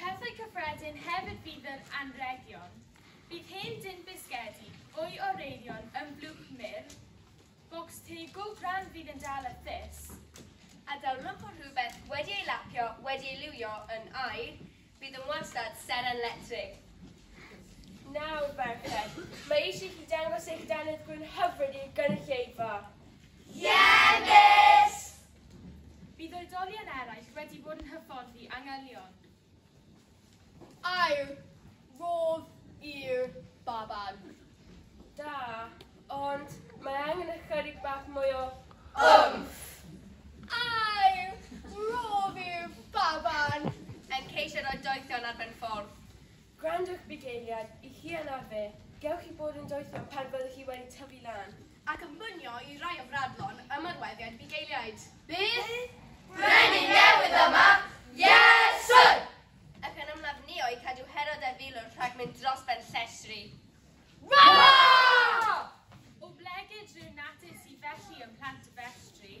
Pethau cyffredin hefyd fydd yr anrhegion. Bydd hen dun bisgedi, fwy o reirion yn blwch mur, bocs te go grand fydd yn dal y thus, a dawlwch o rhywbeth wedi ei lapio, wedi ei liwio yn aer, bydd yn wastad seren letrig. Nawr, merched, mae eisiau i chi dangos eich dannedd gwyn hyfryd i'r gynulleidfa. Ie, Miss! Bydd oedolion eraill wedi bod yn hyfforddi angelion. Air, rodd i'r baban. Da, ond mae angen ychydig bach mwy o... Ymff! Air, rodd i'r baban. Yn ceisio rhoi doethion ar ben ffordd. Gwrandwch bugeiliad i chi a na fi, gewch chi fod yn doethog pan fyddwch chi wedi tyfu lan. Ac yn mynio i rai o fradlon ymarweddiad bugeiliaid. Bydd Brenin newydd yma! Yes Sir! Ac yn ymlafnio i cadw Herod a Filwr rhag mynd dros ben llestri. Rah! Oblegid rhyw natur sydd felly ym Mhlant-y-festri.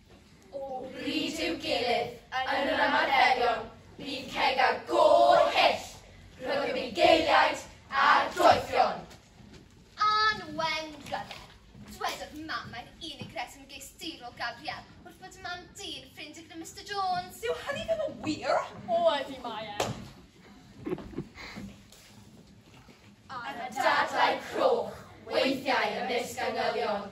O bryd i'w gilydd, yn yr ymarferion, bydd ceg a gôr hyll rhwng y bugeiliaid a'r doethion. Ann Wen Brother, dwedodd mam mae'n unig reswm geisteirol Gabriel wrth fod y mam dyn ffrind i'r Mister Jones. Yw hynny ddim yn wir? O, ydi mae e. Ar y dadlau croch, weithiau ymysg angylion.